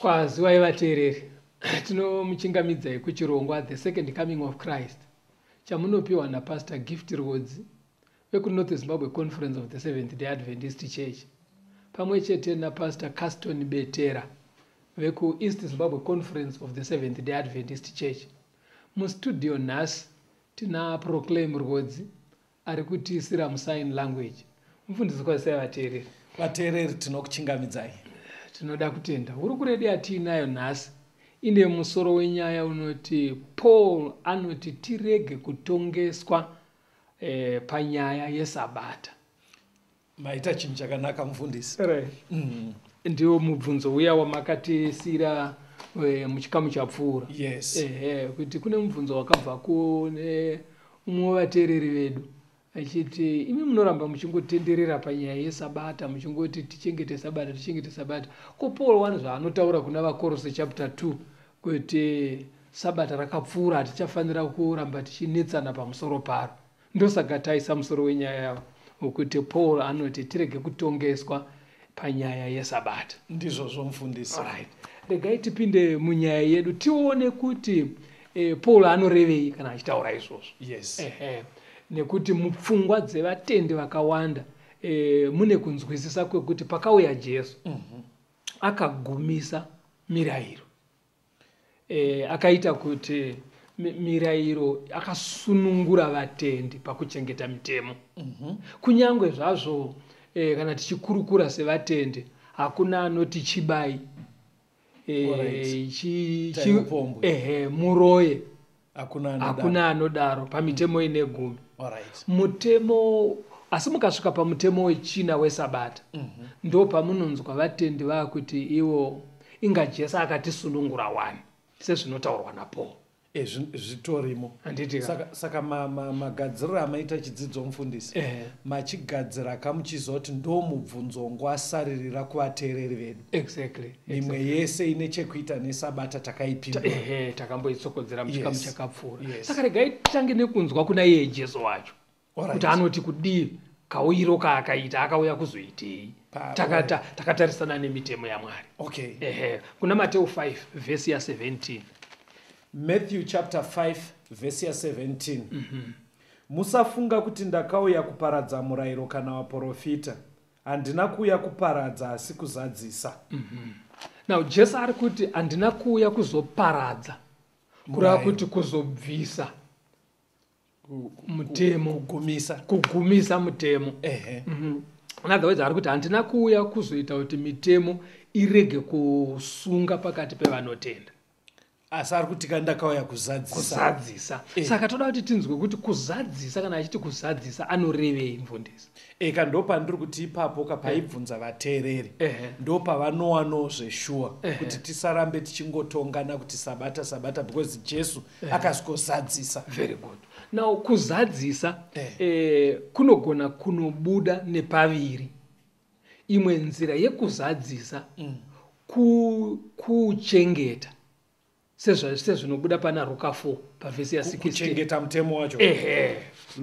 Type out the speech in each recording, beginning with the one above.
Kwazivai vateereri, tinomuchingamidzai kuchirongwa The Second Coming of Christ chamunopiwa naPastor Gift Rwodzi vekuNorth Zimbabwe Conference of the Seventh Day Adventist Church pamwe chete naPastor Caston Betera vekuEast Zimbabwe Conference of the Seventh Day Adventist Church. Mustudio nhasi tina Proclaim Rwodzi ari kutiisira musign language mufundisi kwazisai vateereri vateereri tinokuchingamidzai tinoda kutenda hurukure yatiinayo nhasi ine musoro wenyaya unoti paul anoti tirege kutongeswa eh, panyaya yesabata maita chinhu chakanaka mufundisi mm. ndiwo mubvunzo uya wamakatisiira eh, muchikamu chapfuura yes ehe kuti kune mubvunzo wakabva kune umwe wevateereri vedu achiti imi munoramba muchingotenderera panyaya yesabata muchingoti tichengete sabata tichengete sabata ko paul wani zvaanotaura kuna vakorose chapter 2 kuti sabata rakapfuura hatichafanira kuramba tichinetsana pamusoro paro Ndosaga taisa musoro wenyaya wokuti Paul anoti tirege kutongeswa panyaya yeSabata. Ndizvozvo mfundisi. Alright. Regai tipinde munyaya yedu tione kuti eh, Paul anorevei kana achitaura izvozvo. Yes. Ehe. Nekuti mupfungwa dzevatendi vakawanda eh, mune kunzwisisa kwekuti pakauya Jesu mm -hmm. akagumisa mirayiro. eh, akaita kuti mirayiro akasunungura vatendi pakuchengeta mitemo mm -hmm. kunyange zvazvo eh, kana tichikurukura sevatendi hakuna anoti chibai eh, chi, chi, eh, muroye hakuna anodaro pamitemo ine gumi mutemo asi mukasvika pamutemo wechina wesabata mhm. ndo pamunonzwa vatendi vakuti iwo inga jesu akatisunungura wani sezvinotaurwa napaul e, zvitorimo saka magadziriro amaita chidzidzo mufundisi eh. machigadzira kamuchizoti ndomubvunzongo asaririra kuvateereri vedu exactly mimwe exactly. yese ine chekuita nesabata takaipindaehe takamboitsokodzera muchikamu yes. chakapfuura yes. saka regai titange nekunzwa kuna iye jesu wacho right. kuti anoti kudii kauyiro kaakaita akauya kuzoitei takatarisana nemitemo yamwari okay. ehe kuna mateu 5 vhesi ya 17 matthew chapter 5 vhesi ya 17 mm -hmm. musafunga kuti ndakauya kuparadza murayiro kana waprofita handina kuuya kuparadza asi kuzadzisa mm -hmm. now jesu ari kuti handina kuuya kuzoparadza kureva kuti kuzobvisa mutemo kugumisa kugumisa mutemo ehe mm -hmm. another words ari kuti handina kuuya kuzoita kuti mitemo irege kusunga pakati pevanotenda asi ari kuti ka ndakauya kuzadzisa kuzadzisa Eh. saka toda kuti tinzwe kuti kuzadzisa kana achiti kuzadzisa anorevei mfundisi eka ndopandiri kuti ipapo ka paibvunza vateereri Ehe. ndopavanowanoo zveshuwa Ehe. kuti tisarambe tichingotongana kuti sabata sabata because jesu akazozadzisa very good now kuzadzisa Eh. eh, kunogona kunobuda nepaviri imwe nzira yekuzadzisa mm. kuchengeta ku sezvinobuda pana ruka 4 pavhesi ya16chengeta mutemo wacho ehe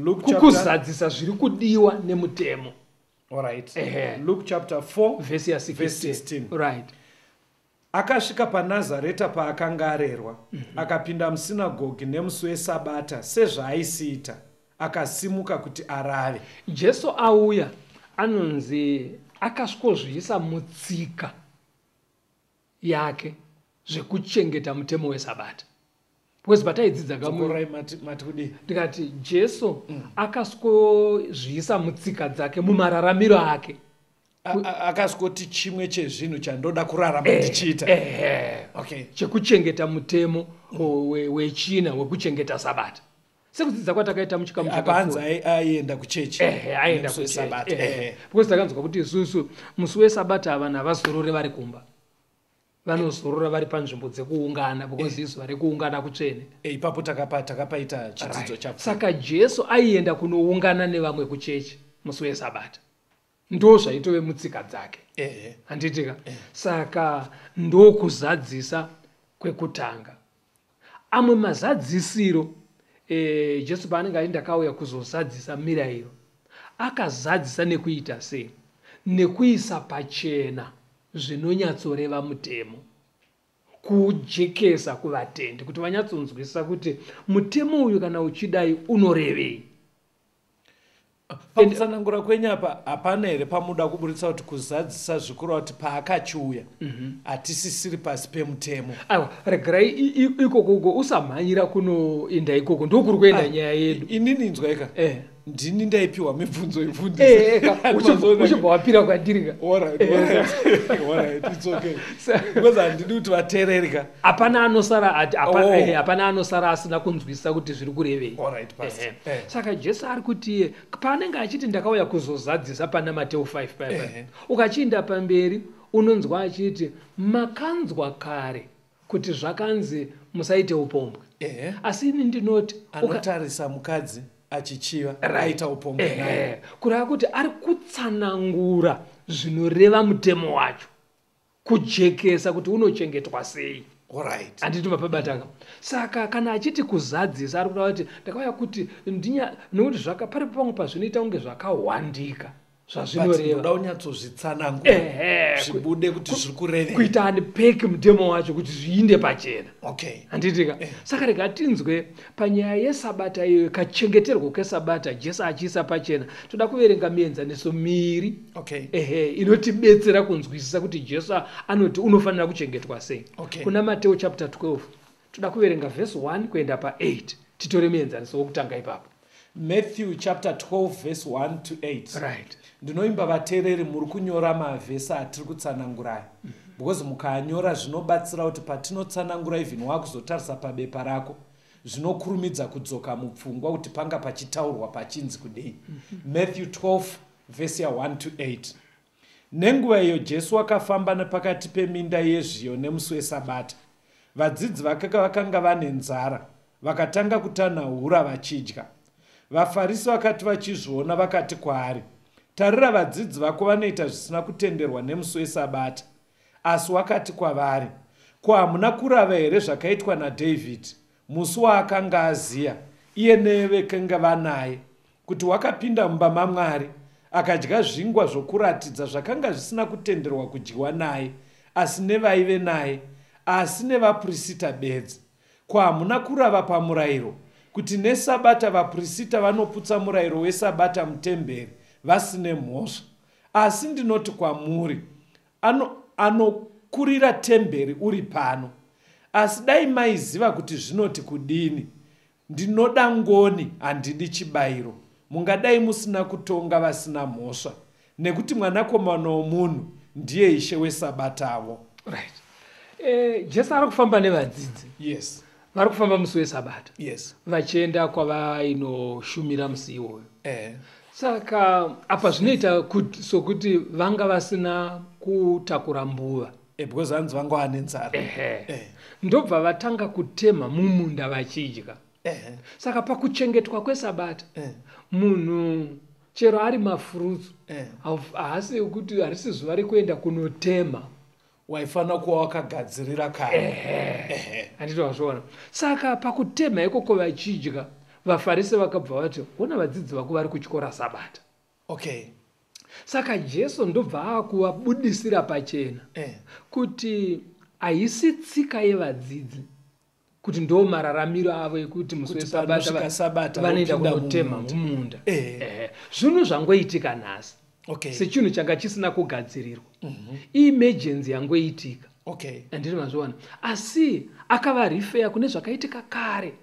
kukuzadzisa zviri kudiwa nemutemo right. ehe luke chapter 4 vhesi ya16 right Akasvika paNazareta paakanga arerwa, mhm. akapinda musinagogi nemusi weSabata sezvaaisiita, akasimuka kuti arave. Jesu auya anonzi akasvikozviisa mutsika yake zvekuchengeta mutemo weSabata. because pataidzidza kamurai mati mati kudii ndikati jesu mm. akaskozviisa mutsika dzake mumararamiro ake akasvoti chimwe chezvinhu chandoda kurarama eh, ndichiita eh, eh. chekuchengeta mutemo wechina wekuchengeta sabata sekudzidza kwatakaita muchikamuapanzi aienda kuchechi aienda kuchesabata because takanzwa kuti isusu musi wesabata vanhu havazorore vari kumba vanozorora vari panzvimbo dzekuungana because eh. izuva rekuungana kutsvene eh, ipapo takapa takapaita chidzidzo chapfu saka jesu aienda kunoungana nevamwe kuchechi musi wesabata ndo zvaitove mutsika dzake handitika saka ndokuzadzisa kwekutanga Amwe mazadzisiro e, Jesu paanenge aiti ndakauya kuzozadzisa mirayiro, akazadzisa nekuita sei? Nekuisa pachena zvinonyatsoreva mutemo kuujekesa kuvatendi kuti vanyatsonzwisisa kuti mutemo uyu kana uchidai unorevei pakutsanangura kwenyu apa hapana here pamuda kuburitsa kuti kuzadzisa zvikuru kuti paakachiuya mhm. hatisisiri pasi pemutemo aiwa regerai ikoko uko usamhanyira kunoenda ikoko ndokuri kuenda ah, nyaya yedu inini inzwaika eh. ndini ndaipiwa mibvunzo yebvunzouchibva eh, eh, wapira kwandirika handidi kuti vateereri ka hapana anosara ati hapana Oh. eh, hapana anosara asina kunzwisisa kuti zviri kurevei Alright, Pastor. Ehe. Eh. saka jesu ari kuti eh, paanenge achiti ndakauya kuzozadzisa pana mateu 5 paya Ehe. paya ukachiinda pamberi unonzwa achiti makanzwa kare kuti zvakanzi musaite upombwe Ehe. asi ini ndinoti uka- anotarisa mukadzi achichiva Right. aita upombwe Ehe. naye kureva kuti ari kutsanangura zvinoreva mutemo wacho kujekesa kuti unochengetwa sei Alright. handiti mapabatanga saka kana achiti kuzadzisa ari kureva kuti ndakauya kuti ndinya nokuti zvaka pari pamwe pazvinoita kunge zvakahwandika But zvazvinoreva ndoda unyatsozvitsanangura Ehe, zvibude kuti zviri kurevei kuita unpack mutemo wacho kuti zviinde pachena okay handitika saka rega tinzwe Panyaya yeSabata iyoyo, kachengeterwo keSabata, Jesu achiisa pachena, toda kuverenga mienzaniso miiri okay. ehe, inotibetsera kunzwisisa kuti Jesu anoti unofanira kuchengetwa sei okay. Kuna Mateo chapter 12 toda kuverenga verse 1 kuenda pa8 titore muenzaniso wokutanga ipapo. Matthew chapter 12 verse 1 to 8. Right. Ndinoimba vatereri muri kunyora mavhesi atiri kutsanangurayo. Mm -hmm. Because mukanyora zvinobatsira kuti patinotsanangura even wakuzotarisa pabepa rako zvinokurumidza kudzoka mupfungwa kuti panga pachitaurwa pachinzi kudei. Mm -hmm. Matthew 12 verse ya 1 to 8. Nenguva iyo Jesu wakafamba nepakati peminda yezviyo nemusi weSabata. Vadzidzi vake vakanga vane nzara, vakatanga kutanhaura vachidya. VaFarisi vakati vachizviona vakati kwaari, Tarira vadzidzi vako vanoita zvisina kutenderwa nemusi weSabata. Asi wakati kwavari, Ko hamuna kurava here zvakaitwa naDhavhidhi Musi waakanga aziya iye nevekenge vanaye kuti wakapinda mumba maMwari akadya zvingwa zvokuratidza zvakanga zvisina kutenderwa kudyiwa naye asi nevaive naye asi nevapurisita bedzi. Ko hamuna kurava pamurayiro kuti neSabata vapurisita vanoputsa murayiro weSabata mutemberi vasine mhosva? Asi ndinoti kwamuri, ano anokurira temberi uri pano asi dai maiziva kuti zvinoti kudini ndinoda ngoni handidi chibayiro mungadai musina kutonga vasina mhosva nekuti mwanakomana womunhu ndiye ishe wesabatavo right. e, jesu ari kufamba nevadzidzi yes vari kufamba musi wesabata yes vachienda kwavainoshumira musi iwoyo eh. saka apa zvinoita kut- sokuti vanga vasina kutakura mbuva eh, because hanzi vanga vane nzara Ehe. Eh. ndobva vatanga kutemha mumunda vachidya eh. saka pakuchengetwa kwesabata Eh. munhu chero ari mafurutsu Eh. hauf- haasi kuti harisi zuva rekuenda kunotemha waifanira kuva wakagadzirira kare handiti wazviona saka pakutemha ikoko vachidya vafarisi vakabva vati hona vadzidzi vako vari kutyora sabata okay saka jesu ndobva akuvabudisira pachena eh. kuti haisi tsika yevadzidzi kuti ndo mararamiro avo ekuti musi wesabata vanoenda kunotema mumunda zvinhu zvangoitika nhasi sechinhu changa chisina kugadzirirwa mhm. imegency yangoitika andiri mazviona asi akava rifeya kune zvakaitika kare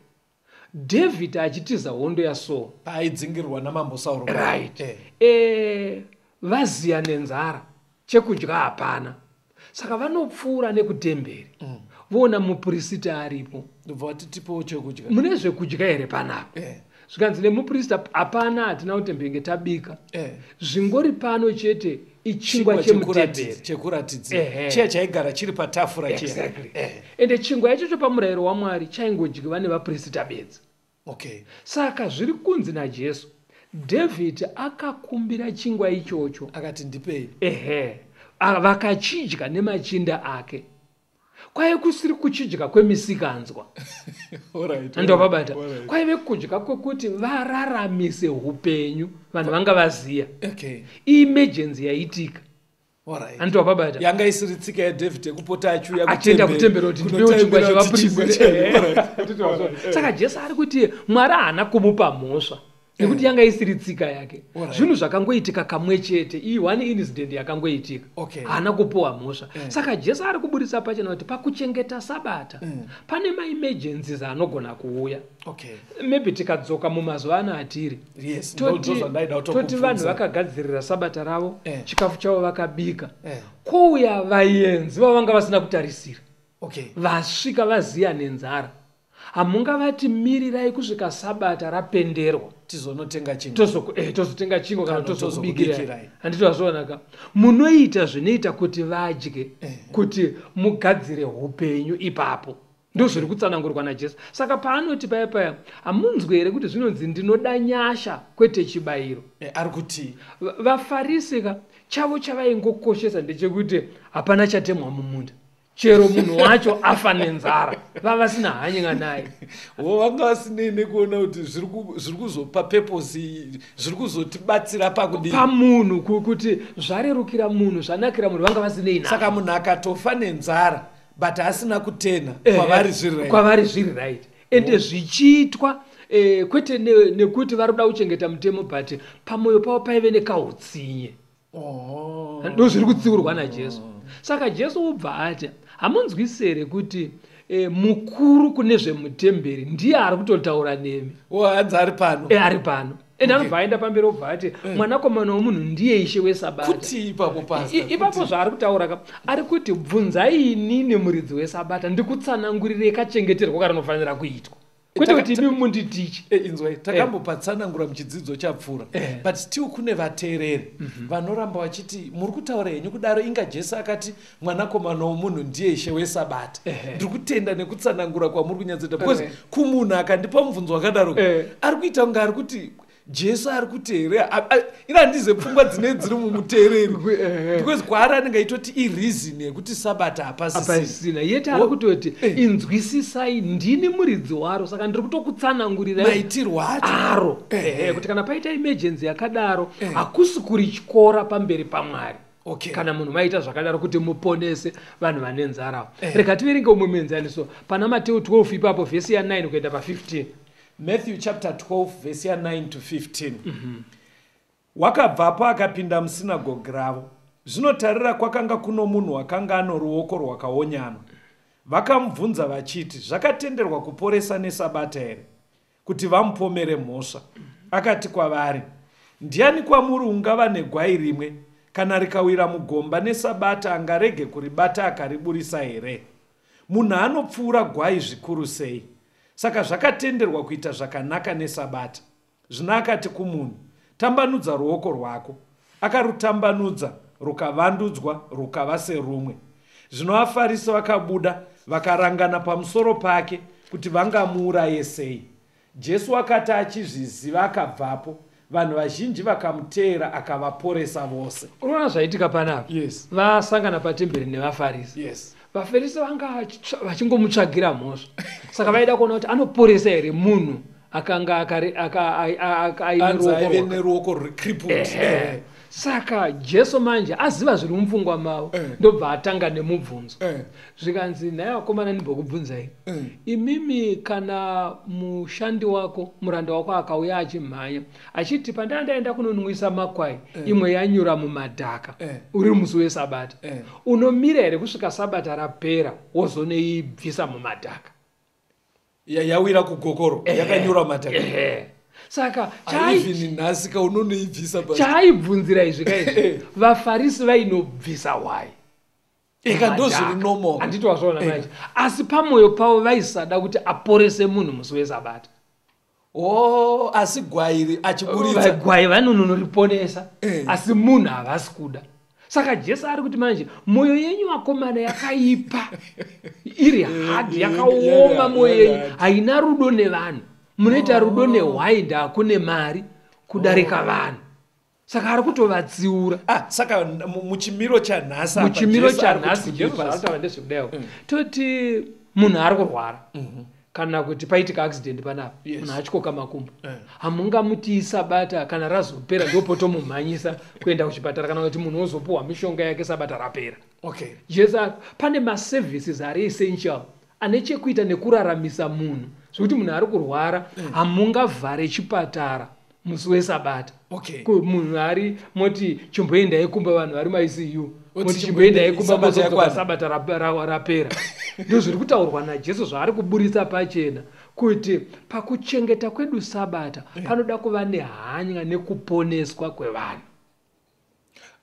david achitiza hondo yasoul paaidzingirwa namambo saul right eh. Eh, vaziya nenzara chekudya hapana saka vanopfuura nekutemberi mm. voona mupurisita aripo ndobva vati tipewo chekudya mune zvekudya here panapa eh. zvikanzi nemupurisita hapana hatina kutembenge tabika eh. zvingori pano chete ichingwa chemutemberichekuratidza eh. chiya chaigara chiri patafura exactly. eh. ende chingwa ichocho pamurayiro wamwari chaingodyiva nevapurisita bedzi Okay. Saka zviri kunzi naJesu, David akakumbira chingwa ichocho. Akati ndipei. Ehe. Vakachidya nemachinda ake. Kwaive kusiri kuchidya kwemisikanzwa. Alright. Ndovabata. Kwaive kudya kwekuti vararamise upenyu vanhu vanga vaziya. Okay. Emergency yaitika. anoti wababata yanga isiri tsika yadavid yekupota achiuya atenda kutembera kuti ndipewo chingwa chevapurisaka jesu ari kuti mwari haana kumupa mhosva nekuti yanga isiri tsika yake zvinhu zvakangoitika kamwe chete iyi one incident yakangoitika haana kupowa mhosva eh. saka jesu ari kuburitsa pachena kuti pakuchengeta sabata mm. pane maemergencies anogona kuuya okay. maybe tikadzoka mumazuva ano atiri yes, toti vanhu vakagadzirira sabata ravo eh. chikafu chavo vakabika eh. kouya vayenzi vavanga vasina kutarisira okay. vasvika vaziya nenzara hamungavati mirirai kusvika sabata rapenderwa tizonotenga chingwa tozoku eh tozotenga chingwa kana tozokubikira handiti wazvoonaka munoita zvinoita kuti vadye eh. kuti mugadzire upenyu ipapo ndozviri kutsanangurwa najesu saka paanoti paya paya hamunzwe here kuti zvinonzi ndinoda nyasha kwete chibayiro e, ari kuti vafarisi ka chavo chavaingokoshesa ndechekuti hapana chatemwa mumunda chero munhu wacho afa nenzara vavasina hany'a naye wo vanga vasinei nekuona kuti zviri kuzopa peposi zviri kuzotibatsira pakudii pamunhu kuti zvarerukira munhu zvanakira munhu vanga vasinei na saka munhu akatofa nenzara but asina kutena eh, kwavari zviri right. kwavari zviri right ende mm. zvichiitwa eh, kwete nekuti ne vari kuda kuchengeta mutemo but pamwoyo pavo paive nekautsinye oh. ndo zviri kutsiurwa najesu saka jesu wobva ati hamunzwisere kuti eh, mukuru kune zvemutemberi ndiye ari kutotaura nemi oh, hanzi ari pano eh, ari pano and anobva aenda pamberi obva ati eh. mwanakomana womunhu ndiye ishe wesabatai ipapo zvaari kutaura ka ari kuti bvunzai inini muridzi wesabata ndikutsanangurirei kachengeterwo karinofanira kuitwa kwete kuti imi munditiche eh, inzwai eh. takambopatsanangura muchidzidzo chapfuura eh. but still kune vateereri mhm. vanoramba vachiti muri kutaura henyu kudaro inga jesu akati mwanakomana womunhu ndiye ishe wesabata ndiri kutenda nekutsanangura kwamuri kunyatsoita because kumunhu akandipa mubvunzo wakadaro ari kuita kunge ari kuti jesu ari kuteerera iri handize pfungwa dzine dziri mumuteereri because kwaari anenge aitoti ireason yekuti sabata hapasisina yete ari kutoti eh. inzwisisai ndini muridzi waro saka ndiri kutokutsanangurira maitirwo achoaro eh, eh, kuti kana paita emergency yakadaro hakusi kuri tyora pamberi pamwari okay. kana munhu maita zvakadaro kuti muponese vanhu vane nzara eh. rega tiverenge umwe muenzaniso pana mateu 12 ipapo vhesi ya 9 kuenda pa15 matthew chapter 12 vhesi ya 9 to 15 mm -hmm. wakabvapo akapinda musinagogi ravo zvinotarira kwakanga kuno munhu wakanga ano ruoko rwakaonyana vakamubvunza vachiti zvakatenderwa kuporesa nesabata here kuti vamupomere mhosva. Akati kwavari, Ndiani kwamuri ungava negwai rimwe, kana rikawira mugomba neSabata angarege kuribata akariburisa here? Munhu anopfuura gwai zvikuru sei! Saka zvakatenderwa kuita zvakanaka neSabata. Zvino akati kumunhu, Tambanudza ruoko rwako. Akarutambanudza, rukavandudzwa, rukava serumwe. Zvino vaFarisi vakabuda, vakarangana pamusoro pake kuti vangamuuraye sei. Jesu wakati achizviziva akabvapo, vanhu vazhinji vakamuteera akavaporesa vose. Unoona zvaitika panapa? Yes. Vasangana patemberi nevaFarisi. Yes. VaFarisi vanga vachingomutsvagira mhosva. Saka vaida kuona kuti anoporesa here munhu akanga aive neruoko rwecriput saka jesu manje aziva zviri mupfungwa mavo eh. ndobva atanga nemubvunzo eh. zvikanzi nhai vakomana ndimbokubvunzai eh. imimi kana mushandi wako muranda wako akauya achimhanya achiti pandaa ndaenda kunonwisa makwai imwe yanyura mumadhaka uri musi wesabata unomira here kusvika sabata rapera wozoneibvisa mumadhaka yawira kugokoro yakanyura mataka saka nhasika unonoibvisa chaaibvunzira izvi ka izvi vafarisi vainobvisa why eka ndozviri nomo handiti wazvaona manje asi pamwoyo pavo vaisada kuti aporese munhu musi wesabata Oh, asi gwai iri achiburitsa gwai vanononoriponesa eh. asi munhu havasi kuda saka jesu ari kuti manje mwoyo yenyu vakomana yakaipa iri eh, hard eh, yakaoma mwoyo yenyu haina rudo nevanhu munoita oh. rudo nehwainda kune mari kudarika oh. vanhu saka ari kutovatsiura ah, saka muchimiro chanhasi muchimiro chanhasi jesu zvaataura ndezvekudaio mm. toti munhu ari kurwara mm -hmm kana kuti paitika accident panapa yes. munhu achikoka makumbo eh. hamungamutii sabata kana razopera ndopotomumhanyisa kuenda kuchipatara kana kuti munhu ozopuhwa mishonga yake sabata rapera okay. jesu pane maservices ari essential ane chekuita nekuraramisa munhu zvekuti munhu ari kurwara mm. hamungavhare chipatara musi wesabata okay. munhu ari moti chimboendai kumba vanhu vari maisiyu moti chimboendai kumba mozoka sabata rapera ndo zviri kutaurwa najesu zvaari kuburitsa pachena kuti pakuchengeta kwedu sabata eh. panoda kuva nehanya nekuponeswa kwevanhu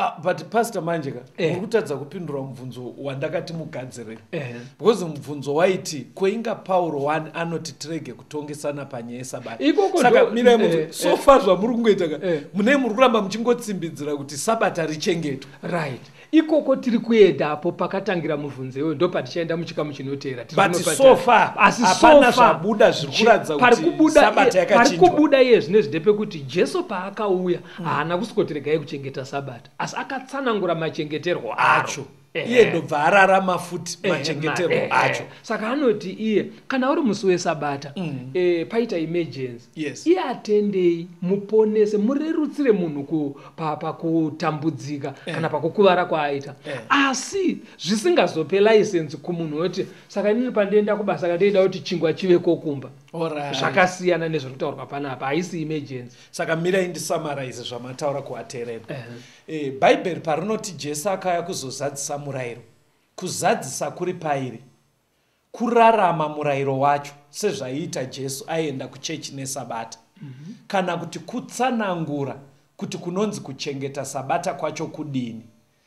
Ah, but pastor manje ka eh. uri kutadza kupindura mubvunzo wandakati mugadzirei eh. because mubvunzo waiti koinga pauro one anoti tirege kutongesana panyaya yesabata saka mirai muti eh, so far zvamuri kungoita ka munei muri kuramba muchingotsimbidzira kuti sabata richengetwa right ikoko tiri kuenda apo pakatangira mubvunzo iwoyo ndo patichaenda muchikamu chinoteera asizvabuda zviri kuratidza kuti sabata yakachinjwa pari kubuda iye zvinezvi ndepekuti jesu paakauya haana kusikotiregai kuchengeta sabata asi akatsanangura machengeterwo acho iye ndobva ararama futi machengeterwo eh, eh, eh. acho saka anoti iye kana uri musi wesabata mm. e, paita emergency yes. iye atendei muponese murerutsire munhu pakutambudzika pa, pa kana pakukuvara kwaaita asi zvisingazope license kumunhu woti saka inini pandienda kubasa kandeida kuti chingwa chive kokumba zvakasiyana nezviri kutaurwa panapa haisi emergency saka mirai ndisamaraize zvamataura kuaterera uh -huh. e, eh, bhaibheri parinoti jesu akauya kuzozadzisa murayiro kuzadzisa kuri pairi kurarama murayiro wacho sezvaiita jesu aienda kuchechi nesabata mm -hmm. kana kuti kutsanangura kuti kunonzi kuchengeta sabata kwacho kudini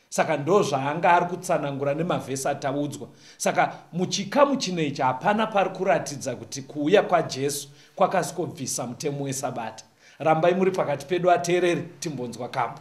saka ndozvaanga ari kutsanangura nemavhesi ataudzwa saka muchikamu chino ichi hapana pari kuratidza kuti kuuya kwajesu kwakasi kobvisa mutemo wesabata rambai muri pakati pedu ateereri timbonzwa kambo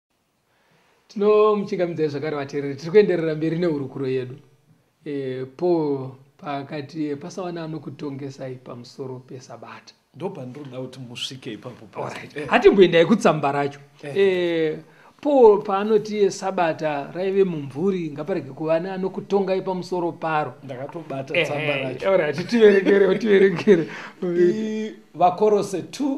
tinomuchingamidzai zvakare vateereri tiri kuenderera mberi nehurukuro yedu e, paul paakati eh, pasawana anokutongesai pamusoro pesabata ndopandinoda kuti musvike ipapo eh. hatimboendai kutsamba racho e, paul paanoti sabata raive mumvuri ngaparege kuva neanokutongai pamusoro paro ndakatobata tsamba racho tiverengerewo tiverengere vakorose 2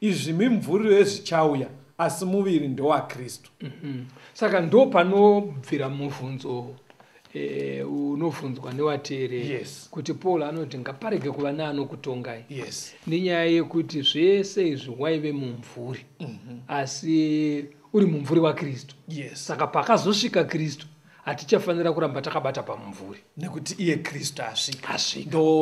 izvi mimvuri yezvichauya asi muviri ndowaKristu. Mm -hmm. Saka ndo panobvira mubvunzo e, unobvunzwa nevateereri yes. kuti Paul anoti ngaparege kuva neanokutongai yes. nenyaya yekuti zvese izvi waive mumvuri mm -hmm. asi uri mumvuri waKristu yes. Saka pakazosvika Kristu hatichafanira kuramba takabata pamumvuri nekuti iye kristu asvika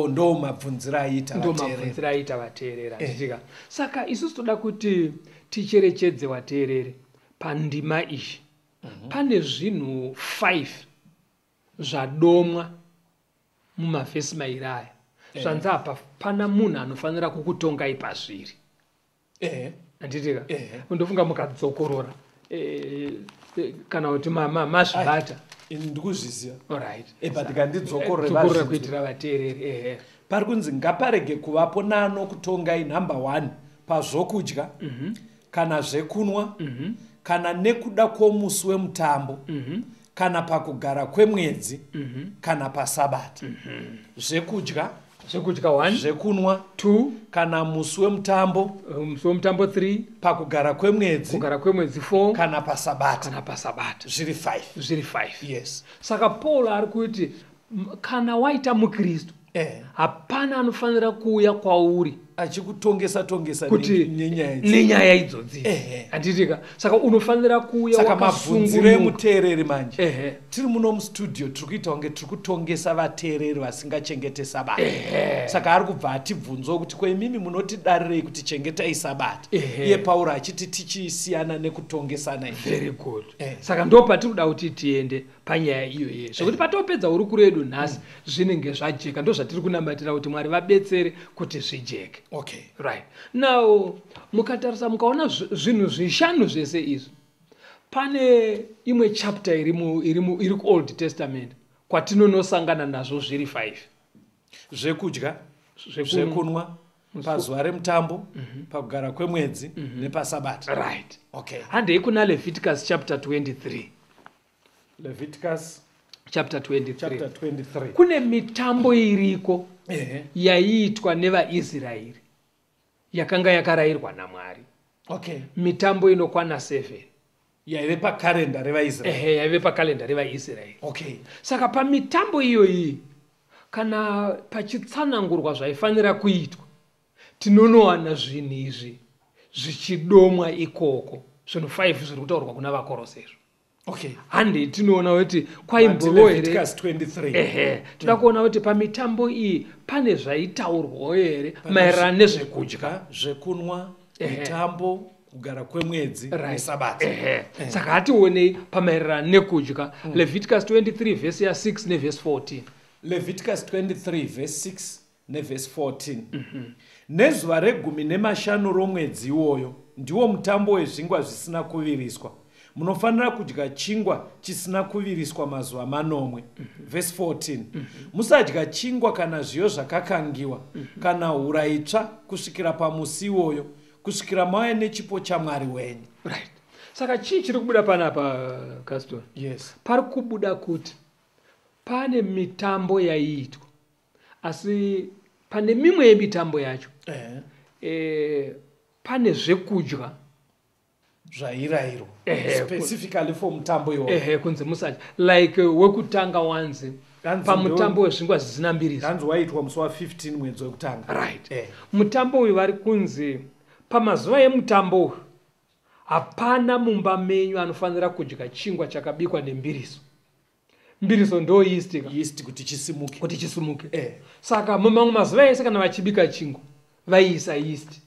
ndo mabvunziro aiita ndo mabvunziro aiita vateereri achitika eh. saka isusu toda kuti ticherechedze vateereri pandima iyi mhm. pane zvinhu five zvadomwa mumavhesi mairi aya eh. zvanzi apa pana munhu anofanira kukutongai pazviri ehe handitika ehe ndofunga mukadzokorora eh, eh, kana kuti ma- ma- masvibata ini ndikuzviziva orit Eh, but ngandidzokorore dzokorora vazhinji. kuitira vateereri ehe pari kunzi ngaparege kuvapo nano kutongai number one pazvokudya kana zvekunwa kana nekuda kwomusi wemutambo kana pakugara kwemwedzi mm -hmm. kana pasabata mm -hmm. zvekudya zvekudya one zvekunwa two kana musi wemutambo uh, musi wemutambo three pakugara kwemwedzi kugara kwemwedzi four kana pasabata kana pasabata zviri five zviri five yes saka paul ari kuti kana waita mukristu eh. hapana anofanira kuuya kwauri achikutongesa tongesa kuti nenyaya idzodzi handitika saka unofanira kuuya saka mabvunziro emuteereri manje ehe tiri muno mustudio tiri kuita kunge tiri kutongesa vateereri vasingachengete sabata saka ari kubva atibvunzwa kuti ko imimi munotidarirei kuti chengetai sabata iye pauro achiti tichisiyana nekutongesana very good ehe. saka ndo patiri kuda kuti tiende panyaya iyoye zvekuti patopedza hurukuro yedu nhasi zvinenge zvajeka ndo zvatiri kunamatira kuti mwari vabetsere kuti zvijeke okay right now mukatarisa mukaona zv- zvinhu zvishanu zvese izvi pane imwe chapter iri mu- iri mu- iri kuold testament kwatinonosangana nazvo zviri five zvekudya Zvekunwa. zvekunwa pazuva remutambo pakugara kwemwedzi nepasabata right okay handei kuna leviticus chapter 23 leviticus chapter 23, chapter 23. kune mitambo iriko Ehe. yaiitwa nevaisraeri yakanga yakarayirwa namwari okay mitambo inokwana 7 yaive pakarenda revaisraeri ehe yaive pakalenda revaisraeri okay saka pamitambo iyoyi kana pachitsanangurwa zvaifanira kuitwa tinonowana zvinhu izvi zvichidomwa ikoko zvinhu 5 zviri kutaurwa kuna vakorosezvo okay hande tinoona kuti kwaimboroereehe toda kuona kuti pamitambo iyi pane zvaitaurwawo here maererano nezvekudya zvekunwa mitambo kugara kwemwedzi nesabata eh. saka hationei pamaererano nekudya mm. leviticus 23 vhesi ya6 nevhesi 14 leviticus 23 vhesi 6 nevhesi 14 mm -hmm. nezuva regumi nemashanu romwedzi iwoyo ndiwo mutambo wezvingwa zvisina kuviriswa munofanira kudya chingwa chisina kuviriswa mazuva manomwe vhesi 14 musadya chingwa kana zviyo zvakakangiwa kana hura itsva kusvikira pamusi iwoyo kusvikira mauya nechipo chamwari wenyu right. saka chii chiri kubuda panapa castor yes pari kubuda kuti pane mitambo yaiitwa asi pane mimwe yemitambo yacho eh. Eh, pane zvekudya zvairayirwa specifically for mutambo iwoehe kunzi musacha like eh, wekutanga wanzi pamutambo wezvingwa zvisina mbiri hanzi waitwa musi wa 15 mwedzi wekutanga right eh. mutambo uyu vari kunzi pamazuva emutambo uyu hapana mumba menyu anofanira kudya chingwa chakabikwa nembiriso mbiriso ndo yeast ka yeast kuti chisimuke kuti chisimuke eh. saka mamamwe mazuva ese kana vachibika chingu vaiisa yeast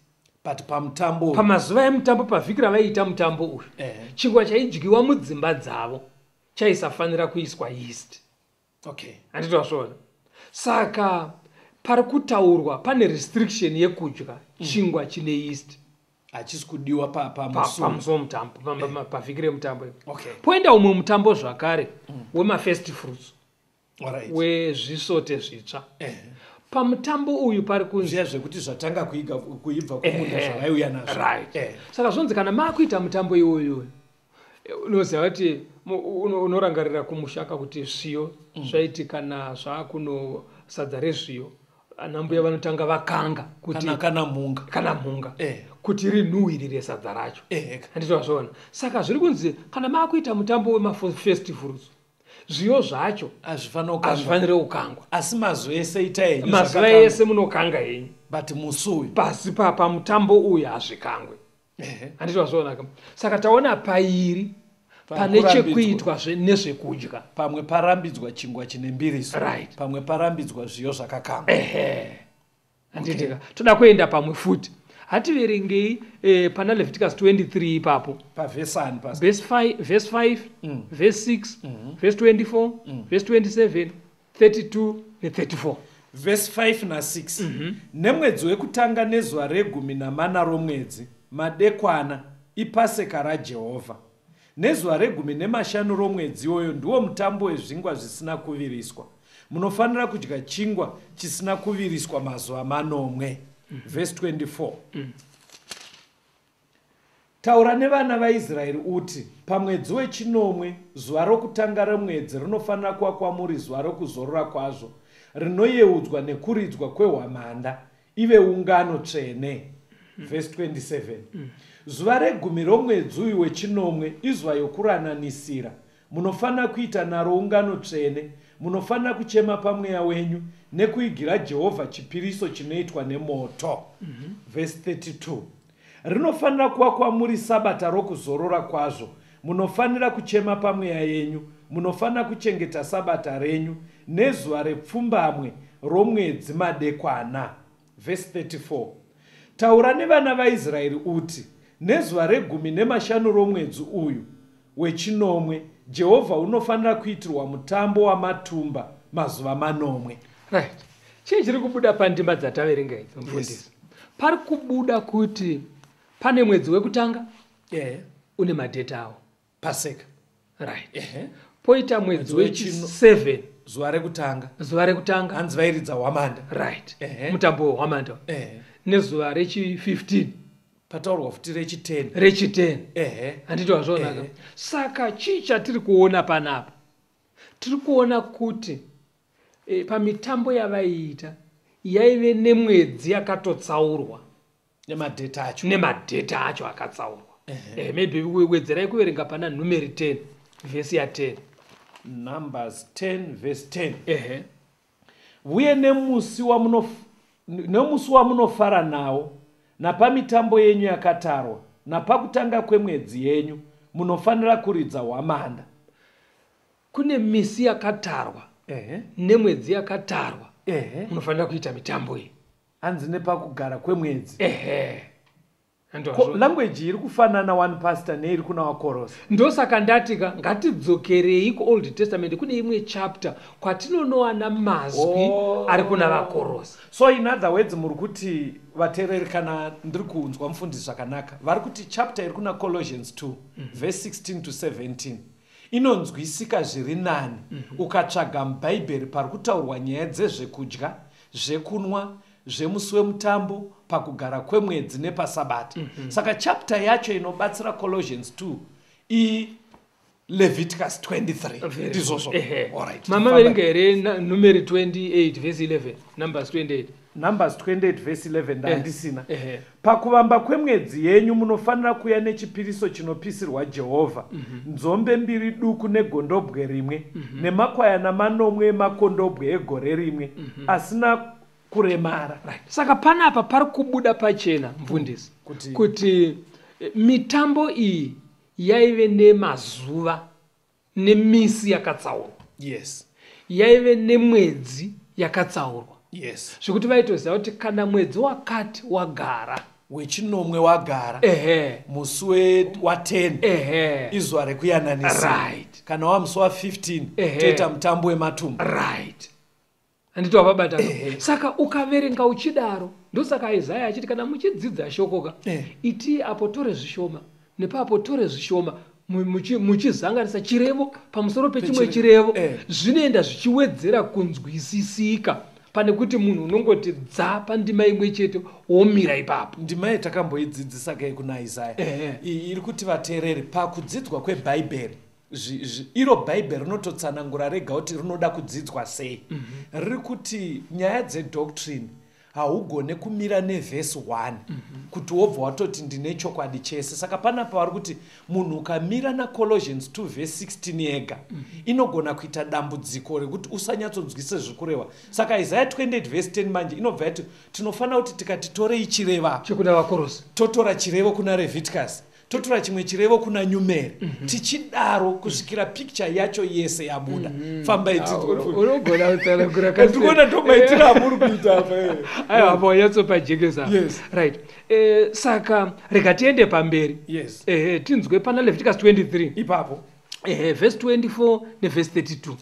but pamutambo pamazuva emutambo pavhiki ravaiita mutambo uyu eh. chingwa chaidyiwa mudzimba dzavo chaisafanira kuiswa yeast okay handiti vasvoona saka pari kutaurwa pane restriction yekudya mm. chingwa chine yeast hachisi kudiwa pamuso mutambo eh. pavhiki remutambo poenda umwe mutambo zvakare mm. wemafirst fruits wezvisote zvitsva eh. pamutambo uyu pari kunzia zvekuti zvatanga kuibva kumunda zvavaiuya nazvo saka zvonzi kana maakuita mutambo iwoyoyo unoziva kuti unorangarira kumushaka kuti zviyo mm. zvaitika nazvaa kuno sadza rezviyo anambuya vanotanga vakanga kutikana mhunga kana mhunga eh. kuti rinhuhiri resadza racho eh, handiti vazvoona saka zviri kunzi kana maakuita mutambo wemafestivals zviyo zvacho hazvifanire kukangwa asi mazuva ese ita henyu mazuva ese munokanga henyu but musi uyu pasi pamutambo uyu hazvikangwe handiti wazvionaka saka taona pairi pane chekuitwa nezvekudya pamwe parambidzwa chingwa chine mbiriso right. pamwe parambidzwa zviyo zvakakamba handitika okay. toda kuenda pamwe futi hativerengei eh, pana leviticus 23 ipapo pavhesi 5 vhesi 6 vhesi 24 vhesi 27 32 ne 34 vhesi 5 na 6 mm -hmm. nemwedzi wekutanga nezuva regumi namana romwedzi madekwana ipaseka rajehovha nezuva regumi nemashanu romwedzi iwoyo ndiwo mutambo wezvingwa zvisina kuviriswa munofanira kudya chingwa chisina kuviriswa mazuva manomwe mm -hmm. vhesi 24 mm -hmm. Taura nevana vaIsraeri uti, Pamwedzi wechinomwe, zuva rokutanga romwedzi rinofanira kuva kwamuri zuva rokuzorora kwazvo, rinoyeudzwa nekuridzwa kwehwamanda, ive ungano tsvene. Mm. Verse 27. Mm. Zuva regumi romwedzi uyu wechinomwe izuva yokurananisira. Munofanira kuita naro ungano tsvene. Munofanira kuchema pamweya wenyu nekuigira Jehovha chipiriso chinoitwa nemoto. Mm -hmm. Verse 32. Rinofanira kuva kwamuri Sabata rokuzorora kwazvo. Munofanira kuchema pamweya yenyu. Munofanira kuchengeta Sabata renyu nezuva repfumbamwe romwedzi madekwana. Vhesi 34. Taura nevana vaIsraeri uti, Nezuva regumi nemashanu romwedzi uyu, Wechinomwe, Jehovha unofanira kuitirwa mutambo wamatumba mazuva manomwe. Right. Chii chiri kubuda pandima dzataverenga idzi, mufundisi? Yes. Pari kubuda kuti pane mwedzi wekutanga yeah. une madheti awo paseka right yeah. poita mwedzi wechi7 zuva rekutanga zuva rekutanga hanzi vairidza hwamanda right yeah. mutambo wehwamanda yeah. nezuva rechi15 pataurwa futi rechiteni rechiteni ehe handiti wazvionaka Ehe. saka chii chatiri kuona panapa tiri kuona kuti e, pamitambo yavaiita yaive nemwedzi yakatotsaurwa nemadheta acho nemadheta acho akatsaurwa Eh, maybe we- wedzerai kuverenga pana numeri 10 vhesi ya 10 numbers 10 verse 10 ehe Vuye nemusi wamunof, nemusi wamunofara nawo, napamitambo yenyu yakatarwa, napakutanga kwemwedzi yenyu, munofanira kuridza hwamanda. Kune misi yakatarwa Ehe. nemwedzi yakatarwa Ehe. munofanira kuita mitambo iyi. Hanzi nepakugara kwemwedzi. Ehe. language iri kufanana one pastor neiri kuna wakorosa ndosaka ndati ka ngatidzokerei kuold testament kune imwe chapter kwatinonowana mazwi oh. ari kuna vakorosa so in other words muri kuti vateereri kana ndiri kunzwa mufundisi zvakanaka vari kuti chapter iri kuna colossians 2 mm -hmm. verse 16 to 17 inonzwisika zviri nani mm -hmm. ukatsvaga mubhaibheri pari kutaurwa nyaya dzezvekudya zvekunwa zvemusi wemutambo pakugara kwemwedzi nepasabata mm -hmm. saka chapter yacho inobatsira colossians 2 iyi leviticus 23 ndizvozvo mama verenga here numeri 28 vhesi 11 numbers 28 numbers 28 vhesi 11 eh, ndandisina eh. pakuvamba kwemwedzi yenyu munofanira kuya nechipiriso chinopisirwa jehovha mhm. nzombe mbiri duku negondobwe rimwe mhm. nemakwayana manomwe emakondobwe egore rimwe mhm. asina kuremara right. saka panapa pari kubuda pachena mfundisi kuti, kuti eh, mitambo iyi yaive nemazuva nemisi yakatsaurwa yes yaive nemwedzi yakatsaurwa yes zvekuti vaitoziva kuti kana mwedzi wakati wagara wechinomwe wagara ehe musi wa10 ehe izuva rekuyananisa right kana wamusi wa15 toita mutambo wematumba right handiti wavabata saka ukaverenga uchidaro ndosaka isaya achiti kana muchidzidza shokoka eh. itii apo tore zvishoma nepaapo tore zvishoma muchizanganisa chirevo pamusoro pechimwe chirevo eh. zvinoenda zvichiwedzera kunzwisisika pane kuti munhu unongoti dza pandima imwe chete womira ipapo ndima ye takamboidzidzisa kei kuna isaya eh. iri kuti vateereri pakudzidzwa kwebhaibheri iro bhaibheri rinototsanangura rega kuti rinoda kudzidzwa sei mhm. riri kuti nyaya dzedoctrine haugone kumira nevhesi 1 mhm. kuti wobva watoti ndine chokwadi chese saka panapa vari kuti munhu ukamira nacolosians 2 vhesi 16 yega mhm. inogona kuita dambudziko rekuti usanyatsonzwise zviri kureva saka isaya 28 vhesi 10 manje inobva yati tinofanira kuti tikatitorei chireva totora chirevo kuna reviticus totora chimwe chirevo kuna nyumeri mm -hmm. tichidaro kusvikira picture yacho yese yabuda mm -hmm. fambai tiunogona ah, kutsanangura katikona ndomaitira amuri kuita apa eh. aiwa apa wanyatsopa jekesa yes. right eh, saka rega tiende pamberi yes. eh, tinzwe pana leviticus 23 ipapo eh, verse 24 neverse 32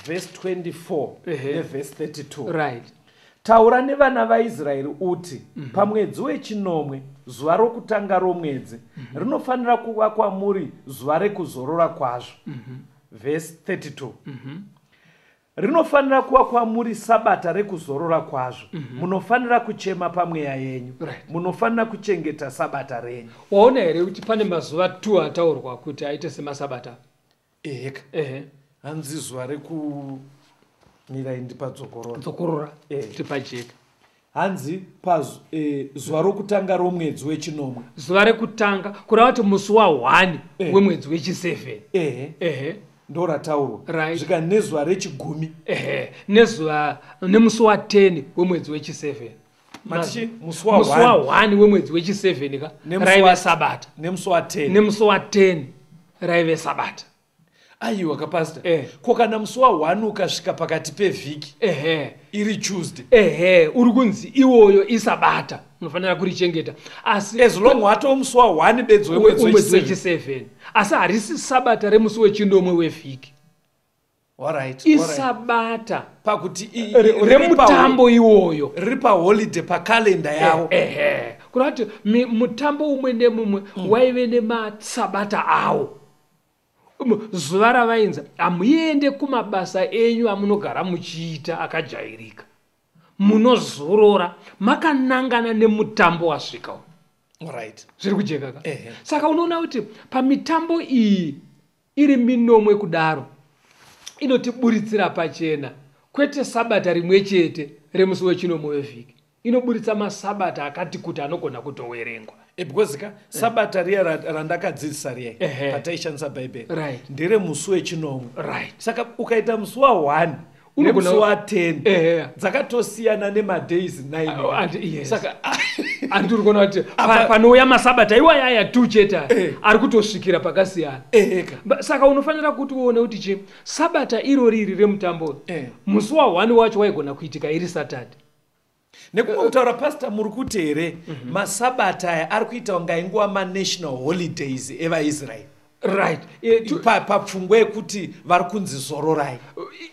verse 24 eh. neverse 32 right Taura nevana vaIsraeri uti, mm -hmm. Pamwedzi wechinomwe, zuva rokutanga romwedzi, mm -hmm. rinofanira kuva kwamuri zuva rekuzorora kwazvo. Mm -hmm. Vhesi 32 mm -hmm. Rinofanira kuva kwamuri sabata rekuzorora kwazvo. Mm -hmm. Munofanira kuchema pamweya yenyu. Right. Munofanira kuchengeta sabata renyu. Waona here kuti pane mazuva 2 ataurwa kuti aite semasabata? eheka ehe hanzi zuva rekumira indi padzokorora dzokorora Eh. tiri pajeka hanzi pazu eh, zuva rokutanga romwedzi wechinomwe zuva rekutanga kureva kuti musi wahwani Eh. wemwedzi wechiseven ehe ehe ndorataurwa Right. zvika nezuva rechigumi ehe nezuva nemusi wa10 wemwedzi wechiseven musi wahwani wemwedzi wechi7 ka raive sabata nemusi wa10 nemusi wa10 raive sabata aiwa kapasita eh. ko kana musi wahwani ukasvika pakati pevhiki ehe iri tuesday ehe uri kunzi iwoyo isabata unofanira kurichengeta asi as long watoo musi wahwani bedzi wemwedzi wechi7 asi harisi sabata remusi wechinomwe wevhiki Alright, isabata alright. pakuti remutambo iwoyo riri paholiday pakalenda eh, yavo eh, eh. kurati mutambo umwe nemumwe mm. waive nemasabata awo zuva ravainza hamuende kumabasa enyu amunogara muchiita akajairika munozorora makanangana nemutambo wasvika right. zviri kujekaka saka unoona kuti pamitambo iyi Iri minomwe kudaro inotiburitsira pachena kwete sabata rimwe chete remusi wechinomwe wevhiki inoburitsa masabata akati kuti anogona kutowerengwa eh, because ka sabata riya randakadzidzisa riya pataishandisa bhaibheri ndere musi wechinomwe saka ukaita musi wa-one unomusi wa10 eh. dzakatosiyana nemadays 9 saka andi uri kuona kuti panouya masabata iwaya aya tu chete aya eh. ari kutosvikira pakasiyana eh, saka unofanira kuti uone kuti chi sabata iro riri remutambo musi wa1 wacho waigona kuitika iri saturday nekumwe kutaura pasta muri kuti here mhm. masabata aya ari kuita kunga inguva manational holidays evaisraeri right papfungwa yekuti vari kunzi zororai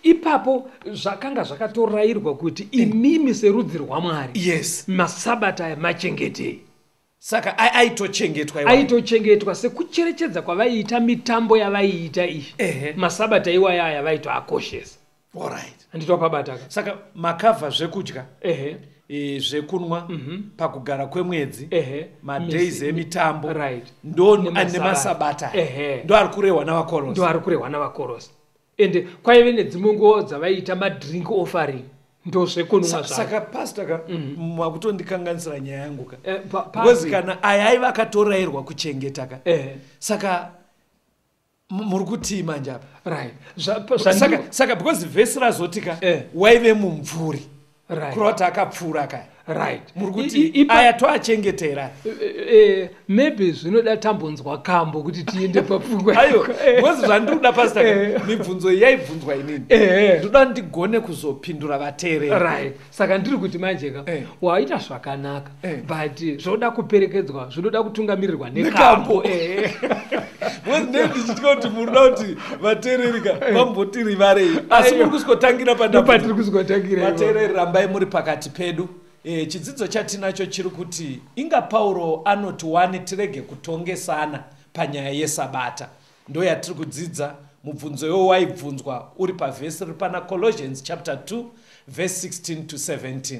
ipapo zvakanga zvakatorayirwa kuti imimi serudzi rwamwari yes masabata aya machengetei saka aitochengetwa aitochengetwa sekucherechedza kwavaiita mitambo yavaiita iyi masabata iwaya aya vaitoakoshesa handiti wapabataka saka makavha zvekudya ehe e, zvekunwa mm -hmm. pakugara kwemwedzi madays emitambo right. ndo nemasabata ndo ari kurehwa navakorosi ndo ari kurehwa navakorosi ende kwaive nedzimwe nguva dzavaiita madrink offering ndozvekunumwasaka pasta ka mhm. makutondikanganisira mm. nyaya yangu ka eh, because eh, kana aya aiva akatorayirwa kuchengeta ka eh. saka muri kutii manje apa right. saka, saka because vhesi razoti ka eh. waive mumvuri right. kurota akapfuura kaya right muri kuti aya toachengetera eh, eh, eh, maybe zvinoda tambonzwa kambo kuti tiende papfungwa ayo bcause zvandiri kuda pasta mibvunzo iyi yaibvunzwa inini ndoda ndigone kuzopindura vateereri right saka ndiri kuti manje ka waita zvakanaka eh. but zvoda kuperekedzwa zvinoda kutungamirirwa nekambo eh. wezine ndichitya kuti muri da kuti vateererika eh. vambotirivarei asi muri kuskotangira padapatiri kuskotangira vateereri rambai muri pakati pedu e, chidzidzo chatinacho chiri kuti inga pauro anoti wani tirege kutongesana panyaya yesabata ndo yatiri kudzidza mubvunzo iwo waibvunzwa uri pavhesi riri pana colossians chapter 2 verse 16 to 17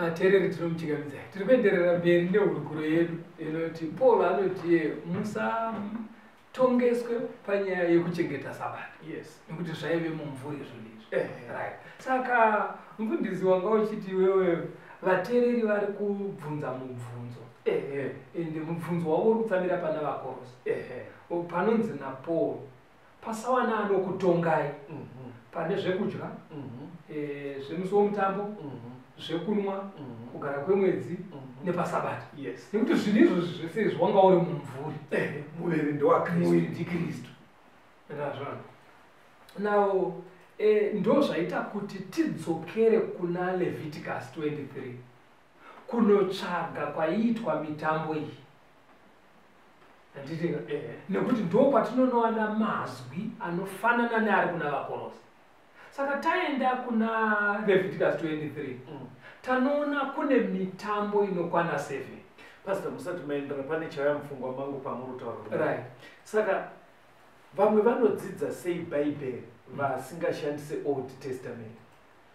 vateereri tinomuchikamidzai tiri kuenderera mberi nehurukuro yedu inoti paul anotiye musatongeswe panyaya yekuchengeta sabata yes nekuti zvaive mumvuri izvonizvi eh, eh. right saka mfundisi wanga uchiti iwewe vateereri vari kubvunza mubvunzo eh, ende mubvunzo wavo uri kutsamira pana vakorosi Uyu panonzi naPaul pasawana anokutongai mhm. pane zvekudya mhm. eh, zvemusi womutambo mhm. zvekunwa kugara kwemwedzi nepasabata nekuti zvinhu izvozvi zvese izvi wanga uri mumvuri eh, muviri ndewakristuiri ndikristu ndazvana now eh, ndo zvaita kuti tidzokere kuna leviticus 23 kunotsvaga kwaiitwa mitambo iyi handitika nekuti ndokwatinonowana mazwi anofanana neari kuna vakorosi saka taenda kuna levitikus 23 mm. tanoona kune mitambo inokwana 7 pastor musati maendera pane chaya mupfungwa mangu pamuri kutaura right saka vamwe vanodzidza sei bhaibheri vasingashandise old testament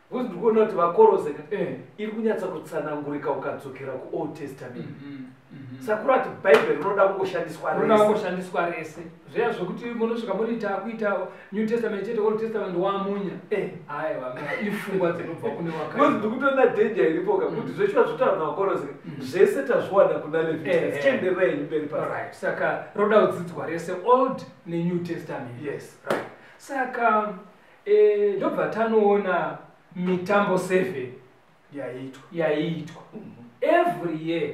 Because ndiri kuona kuti vakorose ka Eh. iri kunyatsa kutsanangurika ukadzokera kuold testament Mhm, mhm. sakura ati bhaibheri rinoda kungoshandiswa Rinoda rese kungoshandiswa rese zviya zvekuti munosvika muriita kuita new testament chete old testament wamunya Eh. aya vamwe ifungwa dzinobva kune Because wakaipa ndiri kutoona danger iripo ka kuti zveshuwa zvotaura navakorose ka zvese tazviwana kuna Eh, levita eh. zichenderera henyu mberi pasi Alright, saka roda kudzidzwa rese old nenew testament yes right saka Eh, ndobva tanoona mitambo 7 yaiitwa yaiitwa every year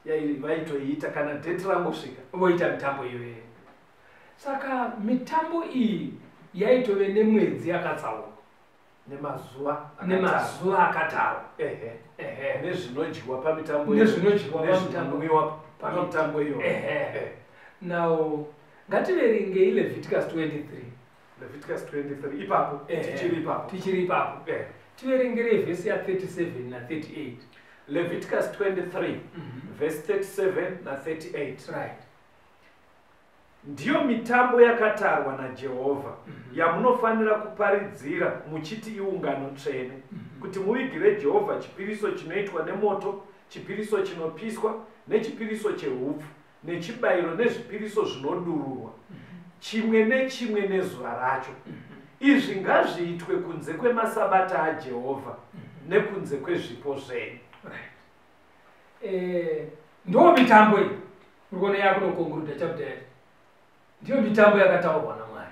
yai- vaitoiita kana date rangosvika voita mitambo iyoyo saka mitambo iyi yaitove nemwedzi yakatsaurwa nemazuva akatara. nemazuva akatarwa ehe Ehe. nezvinodyiwa pamitambo iyo. Nezvinodyiwa pamitambo. nezvinonwiwa pamitambo iyo Ehe. now ngativerengei leviticus 23 Leviticus 23 ipapo eh, tichiri ipapo tichiri ipapo eh. tiverengerei vhesi ya 37 na 38 Leviticus 23 mm -hmm. verse 37 na 38 right ndiyo mitambo yakatarwa najehovha mm -hmm. yamunofanira kuparidzira muchiti iungano tsvene mm -hmm. kuti muvigire jehovha chipiriso chinoitwa nemoto chipiriso chinopiswa nechipiriso cheupfu nechibayiro nezvipiriso zvinodururwa chimwe nechimwe nezuva racho izvi ngazviitwe kunze kwemasabata ajehovha nekunze kwezvipo zvenyu eh, ndo mitambo iyi uri kuona yakunokonguruda chapter ndiyo mitambo yakataurwa namwari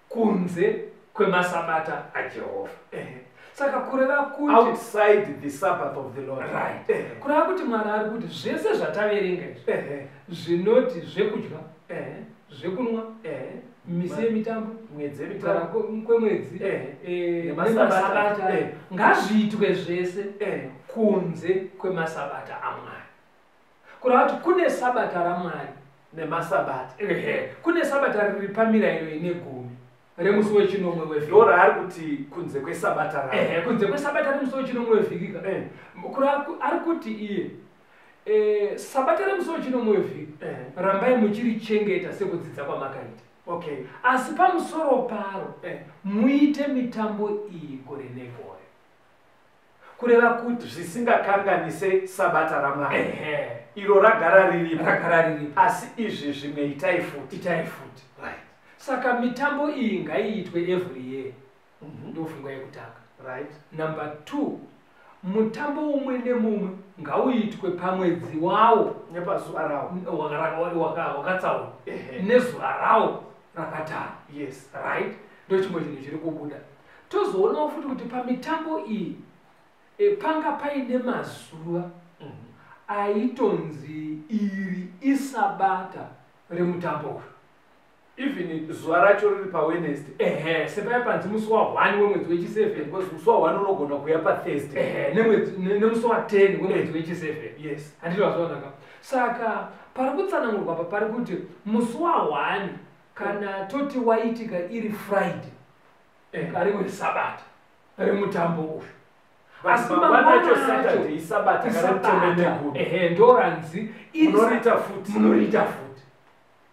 kunze kwemasabata ajehovha eh. saka kureva kuti outside the sabbath of the lord right eh. kureva kuti mwari ari kuti zvese zvataverenga izvi eh. zvinoti zvekudya eh. zvekunwa eh. misi yemitambo mwedzi kwemwedzi eh. eh, nemasabata eh. ngazviitwe zvese eh. kunze kwemasabata amwari kureva kuti kune sabata ramwari nemasabata ehe kune sabata riri pamirairo ine gumi remusi wechinomwe wevhiki ndo raari kuti kunze kwesabata ra ehe kunze kwesabata remusi wechinomwe wevhiki ka Eh. kureva ku- ari kuti iye eh, sabata remusi wechinomwe wevhiki Eh. rambai muchirichengeta sekudzidza kwamakaita okay asi pamusoro paro Eh. muite mitambo iyi gore negore kureva kuti zvisingakanganise sabata ramwari Ehe. iro ragara riripo rakagara riripo asi izvi zvimwe itai futi itai futi right. saka mitambo iyi ngaiitwe every year Mhm. ndofungwa yekutanga right. number two mutambo umwe nemumwe ngauitwe pamwedzi wawo nepazuva rawo waka- waka- waka- wakatsaurwa Ehe. nezuva rawo rakatarwa yes right ndochimwe chinhu chiri kubuda Tozoonawo futi kuti pamitambo iyi e, panga paine mazuva mhm. aitonzi iri isabata remutambo uyu even zuva racho riri pawenest ehe sepaya panzi musi wa1 wemwedzi wechi7 because musi wa1 unogona kuya pathursday ehe nemusi wa10 wemwedzi wechi7 yes handiti vazvaonaka saka pari kutsanangurwa apa pari kuti musi wa1 kana toti waitika iri friday and ari wesabata ari mutambo uyu asi mangwanacho ehe ndoranzi munoriita futi munoriita futi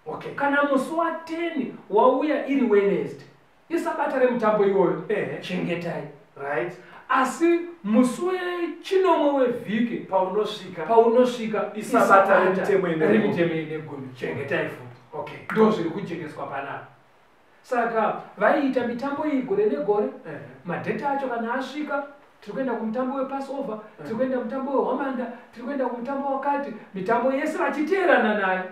okay kana musi wa 10 wauya iri wednesday isabata remutambo iwoyo ehe chengetai right asi musi wechinomwe wevhiki paunosvika paunosvika isabata remitemo ine gumi chengetai futi okay ndo zviri kujengeswa panapa saka vaiita mitambo iyi gore negore eh. madheta acho kana asvika tiri kuenda kumutambo wepassover eh. tiri kuenda mutambo wehwamanda tiri kuenda kumutambo wakati mitambo yese vachiteerana nayo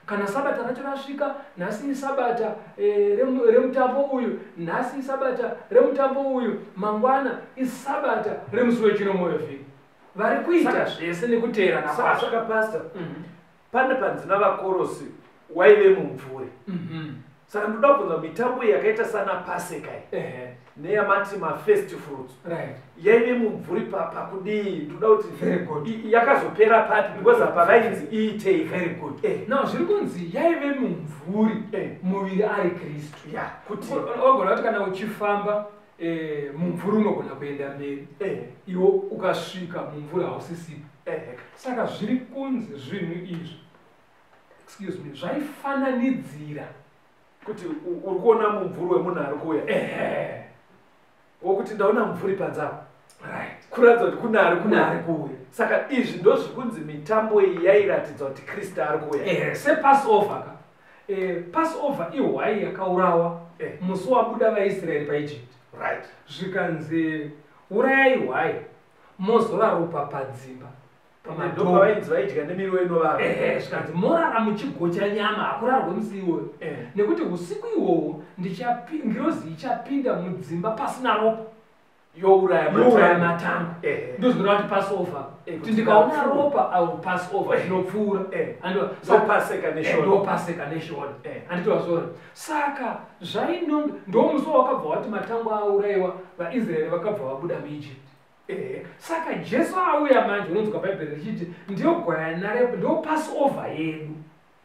kana sabata racho rasvika nhasi isabata eh, remutambo uyu nhasi isabata remutambo uyu mangwana isabata remusi wechino moyo vhiri vari kuita zvese nekuteerana kwasvika pasta mhm. pane panzina vakorosi waive mumvuri mhm. saka ndoda kubvunza mitambo iyi yakaita sana paseka iyi neyamati mafirst fruits yaive mumvuri pakudii ndoda kuti yakazopera papi because apa vainzi iitei now zviri kunzi yaive mumvuri eh. muviri ari kristu kuti ogona kuti kana uchifamba Eh, mumvuri unogona kuenda mberi eh. iwo ukasvika mumvuri hausisipo eh. saka zviri kunzi zvinhu izvi excuse me zvaifananidzira kuti uri kuona mumvuri wemunhu ari kuuya eh. wokuti ndaona mumvuri panzava right. kuratidza kuti kune ari kune ari kuuya saka izvi ndozvikunzi mitambo iyi yairatidzwa kuti kristu ari kuuya eh. sepassover ka Eh, passover ihwai yakaurawa eh. musi wabuda vaisraeri paegypt right. zvikanzi urayai hwai mozora ropa padzimba pamadovaidya nemiriwo inovava eh, eh, zvikanzi morara muchigocha nyama hakurarwe musi iwoyo eh. nekuti usiku iwowo ngirozi ichapinda mudzimba pasina ropa youraya matango eh. ndozvinoda kuti pass over eh, kuti ndikaona ropa i will pass over zvinopfuura eh. andopaseka neshona anditova zvona saka zvainonge ndomusi wawakabva wati matango auraiwa vaisraeri vakabva vabuda muegypt saka jesu auya manje unonzwa bhaibheri richiti ndiyo gwayana repo ndo pass over yedu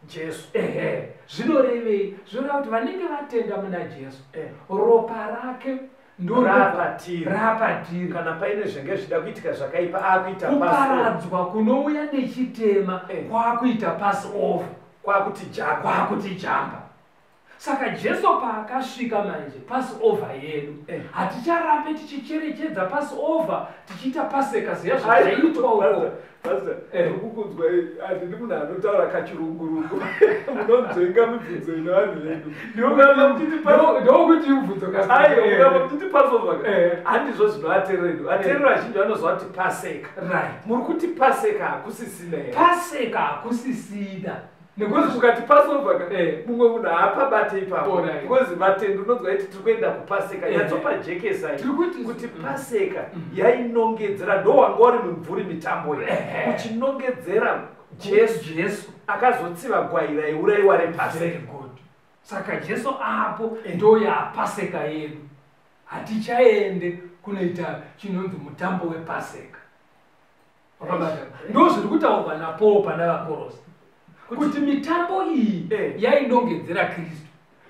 jesu ehe zvinorevei zvinoreva kuti vanenge vatenda muna jesu eh. ropa rake ndorapatiri kana paine zvenge zvida kuitika zvakaipa akuita kuparadzwa kunouya nechitema eh. kwakuita pass over kwakuti jamba kwakuti jamba saka jesu paakasvika manje passover yedu eh. haticharambe tichicherechedza passover tichiita paseka ziya zvaiitwa uko eh. ukukunzwai handidi munhu anotaura kachirungurungu munonzvenga mibvunzo ino vanhu vedu ndokuti mubvunzo kaaiuramba kutiti eh. passover handizvo zvino aterero edu aterero azhinji vanoziva kuti paseka muri kuti paseka hakusisina paseka hakusisina Nekuti kukati Passover ka eh. mumwe munhu haapabate ipapo oh, because vatendi unonzwa iti tiri kuenda kupaseka eh. yatsopajekesa kuti mm. paseka mm. yainongedzera ndo wanga wari mumvuri mitambo ye eh. uchinongedzera jesu jesu akazotsiva gwai raiuraiwa repaseka saka jesu apo eh. ndo yapaseka yedu hatichaende kunoita chinonzi mutambo wepaseka ndo zviri kutaurwa napaul pana vakorosi kuti mitambo iyi eh. yainongedzera kristu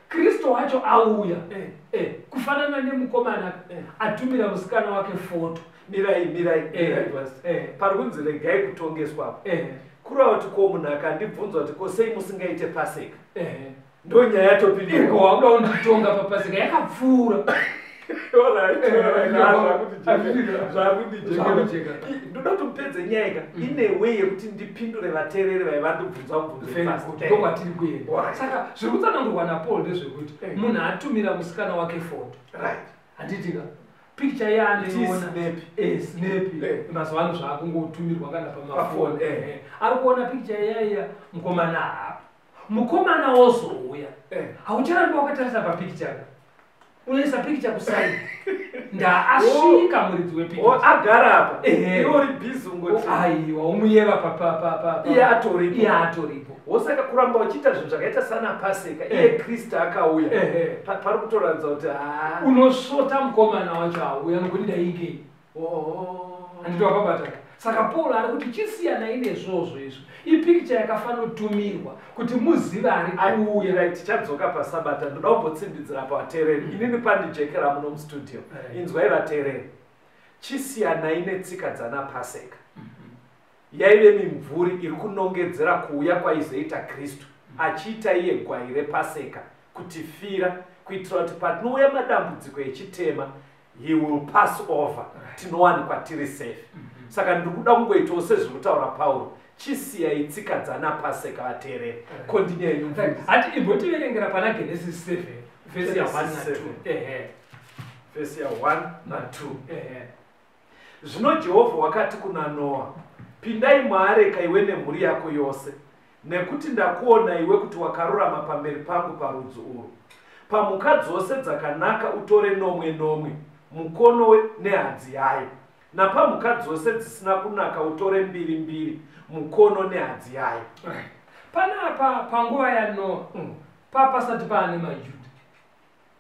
kristu wacho auya eh. Eh, kufanana nemukomana atumira musikana wake foto mirai mirai pari kunzi regai kutongeswa apo kurava kuti ko munhu akandibvunza kuti ko sei musingaite paseka ndonyaya topiniko wauda unditonga papasika yakapfuura ndoda kuti mupedze nyaya ka mm. ine way yekuti ndipindure vateereri vaiva ndibvunza mubvunzondokwatiri kuenda saka zviri kutsanangurwa napaul ndezvekuti eh. munhu atumira musikana wake foto handitika picture yaandiinepi eh, eh. mazuva ano zvaakungotumirwa kana pamafoni ari kuona picture yaiya mukomana haapo mukomana wozouya eh. haucharambi wakatarisa papikicha unoisa pikicha kusai ndaasvika oh. muridzi wepikichaagara oh, apa iori bizi ungoaiwa oh, umuyeva papapapaiye atoripo iye atoripo wosaka kuramba uchiita zvinhu zvakaita sana paseka iye eh. kristu akauya eh, eh. pari kutoratidza kuti ah. unosvota mukomana wacho auya nokuti ndaigei Oh. Handiti wakabata? Saka Paul ari kuti chisiyanai nezvozvo izvo. Ipikicha yakafanotumirwa kuti muzive ari kuuya. Right, tichadzoka paSabata. Ndoda kumbotsindidzira pavateereri. Mm. Inini pandijekera muno mustudio. Right. Inzwai vateereri. Chisiyanai netsika dzana Paseka. Mm-hmm. Yaive mimvuri iri kunongedzera kuuya kwaizoita Kristu mm. achiita iye gwai rePaseka kutifira kuitira kuti patinouya madambudziko echitema he will pass over tinowanikwa tiri safe mhm. saka ndiri kuda kungoitawo sezviri kutaura pauro chisiyai tsika dzana paseka vateereri kondinyaiati imbotiverengera pana genesis 7 vhesi ya 1 na 2 ehe vhesi ya 1 na 2 ehe zvino jehovha wakati kuna noa pindai muareka iwe nemhuri yako yose Nekuti ndakuona iwe kuti wakarurama pamberi pangu parudzi urwu. Pamhuka dzose dzakanaka utore nomwe nomwe, mukono we, nehadzi yayo, napamhuka dzose dzisina kunaka utore mbiri mbiri, mukono nehadzi yayo. Panapa panguva yaNoa, mm. papasati paane maJuda.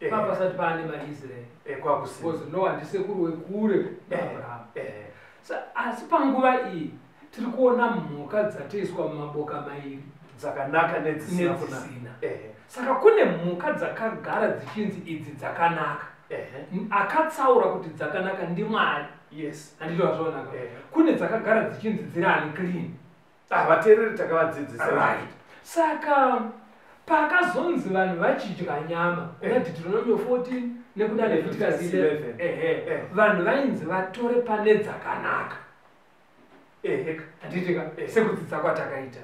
Eh. papasati paane maisraeri eh, because no handisekuru wekure eh, abraham asi panguva iyi tiri kuona mhuka dzatoiswa mumaboka mairi dzakanaka nedzisina saka kune mhuka dzakagara dzichinzi idzi dzakanaka akatsaura kuti dzakanaka ndimwari yes handitozvaonaka kune dzakagara dzichinzi dziri ani clean Ah, vateereri takavadzidzisa right saka pakazonzi vanhu vachidya nyama kuna eh. deuteronomio 14 nekuda leviticus 11 eh. vanhu vainzi vatore pane dzakanaka handitika sekudzidza kwatakaita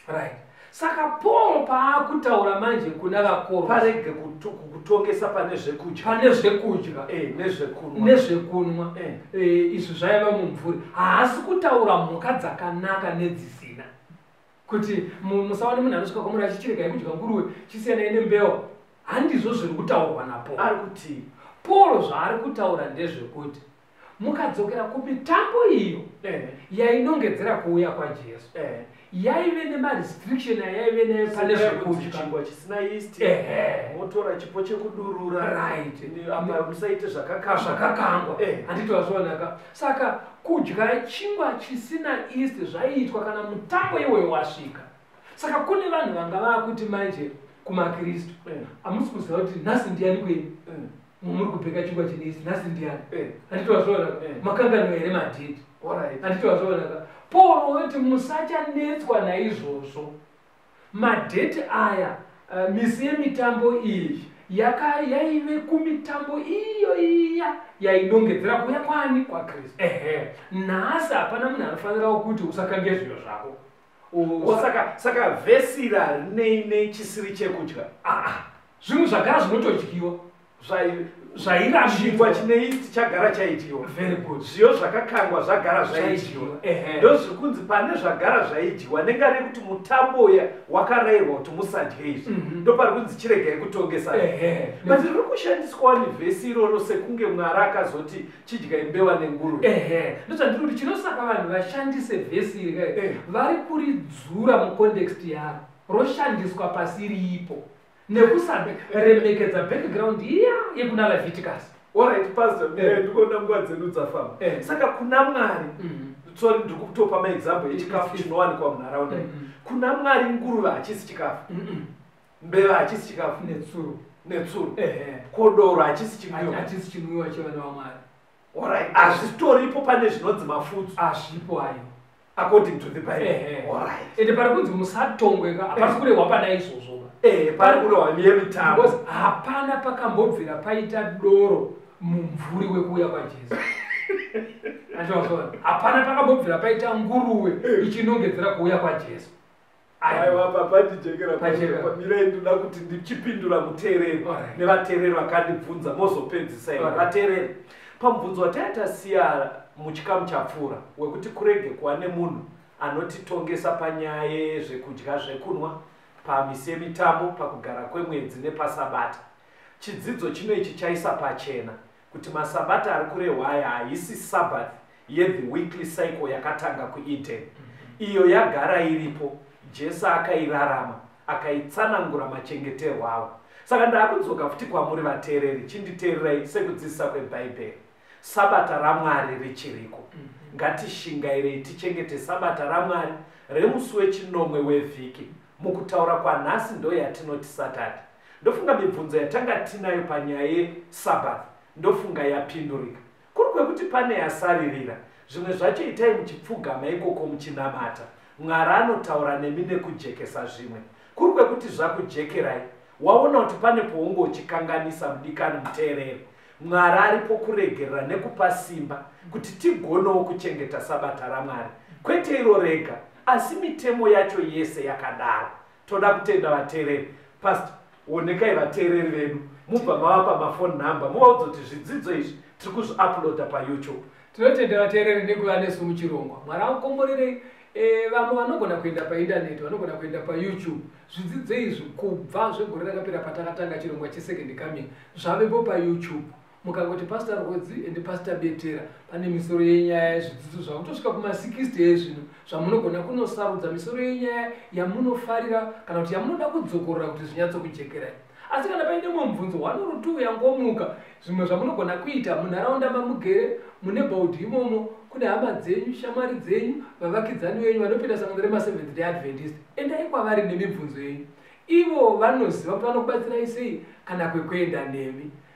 right saka paul paakutaura manje kuna vakoma parege kuto- kutongesa pane zvekudya pane zvekudya Eh, nezvekunwa nezvekunwa Eh. Eh, izvi zvaiva mumvuri haasi kutaura mhuka dzakanaka nedzisina kuti mu- musaone munhu anosvika kwamuri achichiregai kudya nguruwe chisiyanai nembewa handizvo zviri kutaurwa napo ari kuti paul zvaari kutaura ndezvekuti mukadzokera kumitambo iyo eh. yainongedzera kuuya kwajesu eh. yaive nemarestriction ayaive nayo pane zvekudyachingwa chisina yisti motora eh. chipo chekudurura musaite zvakakangwa handiti wazvionaka saka kudya chingwa chisina yisti zvaiitwa kana mutambo iwoyo wasvika saka kune vanhu vanga vaakuti manje kumakristu hamusi kuziva kuti nhasi ndiyani kwenyu muri kupfeka chingwa chinesi nhasi ndiani eh. handitowazvoona eh. makangano here madhidi handitowazvoonaka paul woti musachanetswa naizvozvo madheti aya eh, misi yemitambo iyi yaive kumitambo iyo iya yainongedzera kuya kwani kwakristu ehe nhasi hapana munhu anofanirawo kuti usakange zviyo zvako Oh, saka saka vhesi rarinei nei chisiri chekudya ah, ah. zvinhu zvagara zvinotodyiwa zvairashikwa chinei chagara chaidyiwa very good zviyo zvakakangwa zvagara zvaidyiwa ndo zviri kunzi pane zvagara zvaidyiwa nenga rekuti mutambo uya wakarayirwa kuti musadye izvi mhm. ndo pari kunzi chiregai kutongesa but riri kushandiswa nevhesi iroro sekunge mwari akazoti chidya imbewa nenguru ehe ndosandiri kuti chinosaka vanhu vashandise vhesi iri kai eh. vari kuridzura mucontext yaro roshandiswa pasi riipo nekusada remekedza background iya yekuna leviticus orit pastor eh. eh, ndikuona nguva dzedu dzafamba saka kuna mwari mhm. sorry ndiri kutopa maexample echikafu chinowanikwa munharaunda mm-hmm. kuna mwari nguruva hachisi chikafu mm-hmm. mbeva hachisi chikafu netsuro netsuro ehe kodoro hachisi chinwiwa hachisi chinwiwa chevana vamwari orit hazvitoripo pane zvinonzi mafutsu hazvipo ayo according to the bible orit ende pari kunzi musatongweka hapasi kurehwa pana izvozvo eh, pari kurehwa yemitambo hapana pakambobvira paita doro mumvuri wekuuya kwajesu hapana pakambobvira paita nguruwe ichinongedzera kuuya kwajesu pachemirai ndoda kuti ndichipindura muteereri nevateereri vakandibvunza mozopedzisa ii vateereri pamubvunzo wataita siya muchikamu chapfuura wekuti kurege kuva nemunhu anotitongesa panyaya yezvekudya zvekunwa pamisi yemitambo pakugara kwemwedzi nepasabata chidzidzo chino ichi chaisa pachena Kuti masabata ari kurehwa aya haisi sabbath yethe weekly cycle yakatanga kueden mm-hmm. iyo yagara iripo jesu akairarama akaitsanangura machengeterwo avo saka ndaakudzoka futi kwamuri vateereri chinditeererai sekudzidzisa kwebhaibheri sabata ramwari richiriko mhm. ngatishingairei tichengete sabata ramwari remusi wechinomwe wevhiki mukutaura kwanhasi ndoyatinoti satadhi Ndofunga mibvunzo yatanga tinayo panyaya yeSabbath ndofunga yapindurika. Kuri kwekuti pane yasaririra, zvimwe zvacho itai muchipfugama ikoko muchinamata. Mwari anotaura nemi nekujekesa zvimwe. Kuri kwekuti zvakujekerai, waona kuti pane pounge uchikanganisa mudikani muteereri. Mwari aripo kuregerera nekupa simba kuti tigonewo kuchengeta Sabata raMwari. Kwete iro rega, asi mitemo yacho yese yakadaro. toda kutenda vateereri past onekai vateereri vedu mubva mavapa mafone number muvaudza kuti zvidzidzo izvi tiri kuzviuploada payoutube tinotenda vateereri nekuva nesu muchirongwa mwari akukomborerei e, vamwe vanogona kuenda paindaneti vanogona kuenda payoutube zvidzidzo izvi kubva zvegore rakapera patakatanga chirongwa chesecond coming zvavepo payoutube mukangoti pastor rwodzi and pastor betera pane misoro yenyaya zvidzidzo zvakutosvika kuma 60 ezvino zvamunogona kunosarudza misoro yenyaya yamunofarira kana kuti yamunoda kudzokorora kuti zvinyatsokujekerai asi kana paine mumwe mubvunzo one or two yangomuka zvimwe zvamunogona kuita munharaunda mamugere mune baudhi imomo kune hama dzenyu shamwari dzenyu vavakidzani venyu vanopinda sangano remaseventh day adventist endai kwavari nemibvunzo yenyu ivo vanoziva kuti vanokubatsirai sei kana kwekuenda nemi